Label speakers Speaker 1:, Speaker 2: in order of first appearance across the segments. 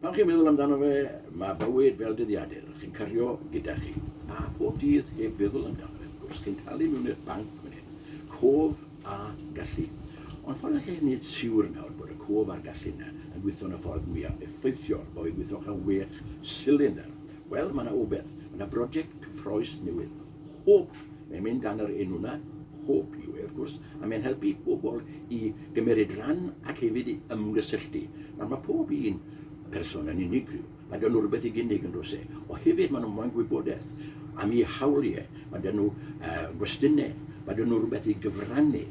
Speaker 1: Pan chi'n meddwl amdano fe, mae bywyd fel dyddiadur, chi'n cario gyda chi, a bob dydd heb feddwl amdano fe, wrth gwrs, chi'n talu mewn i'r banc fan hyn, cof a gallu. Ond ffordd allech chi wneud siwr nawr bod y cof a'r gallu yna yn gweithio yn y ffordd mwyaf effeithiol, bo fi'n gweithio'ch am wech silindr? Wel, mae yna wbeth, mae yna broject cyffrous newydd. Hwb, mae'n mynd dan yr enw 'na, Hwb yw e wrth gwrs, a mae'n helpu pobl i gymeryd ran ac hefyd i ymgysylltu. Nawr mae pob un person yn unigryw, mae gen nhw rywbeth i gynnig yn does e, o hefyd maen nhw'n moyn gwybodaeth am eu hawliau, mae gen nhw uh, gwestiynau, mae gen nhw rhywbeth i gyfrannu,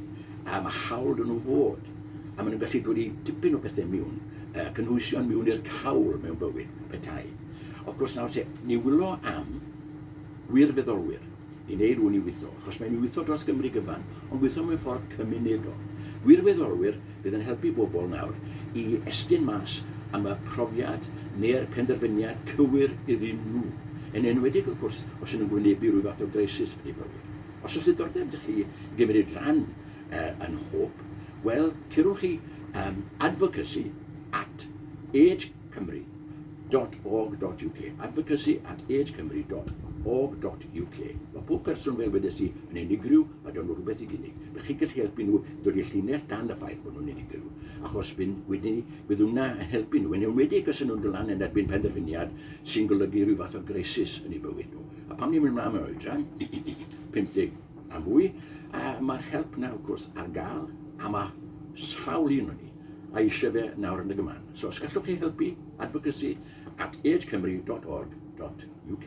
Speaker 1: a mae hawl gen nhw fod, a maen nhw'n gallu dod i dipyn o bethau miwn, uh, cynhwysion miwn i'r cawl mewn bywyd, petai. Of gwrs nawr se, ni wylo am Gwirfeddolwyr, i wneud hwn i weithio, achos mae'n weithio dros Gymru gyfan, ond gweithio mewn ffordd cymunedol. Gwirfeddolwyr fydd yn helpu bobl nawr i estyn mas am y profiad neu'r penderfyniad cywir iddyn nhw, yn enwedig wrth gwrs os ydyn nhw'n gwynebu rhyw fath o greisis yn eu bywyd. Os oes diddordeb 'da chi i gymryd rhan yn Hope, wel, curwch i advocacy at age cymru dot org dot uk, advocacy at age cymru dot org dot uk. Mae pob person, fel wedes i, yn unigryw, a dyn nhw rhywbeth i gynnig. Dych chi'n gallu helpu nhw i ddod i'r llinell dan y ffaith bod nhw'n unigryw, achos byn, wedyn ni, byddwn na yn helpu nhw, yn enwedig os yn nhw'n dod lan yn erbyn penderfyniad sy'n golygu rhyw fath o greisis yn eu bywyd nhw. A pam ni'n mynd mlaen mewn oedran? 50. a mwy, a ma'r help 'na wrth gwrs ar ga'l, a ma' sawl un o ni a isie fe nawr yn y gyman. So os gallwch chi helpu, advocacy at agecymru.org.uk.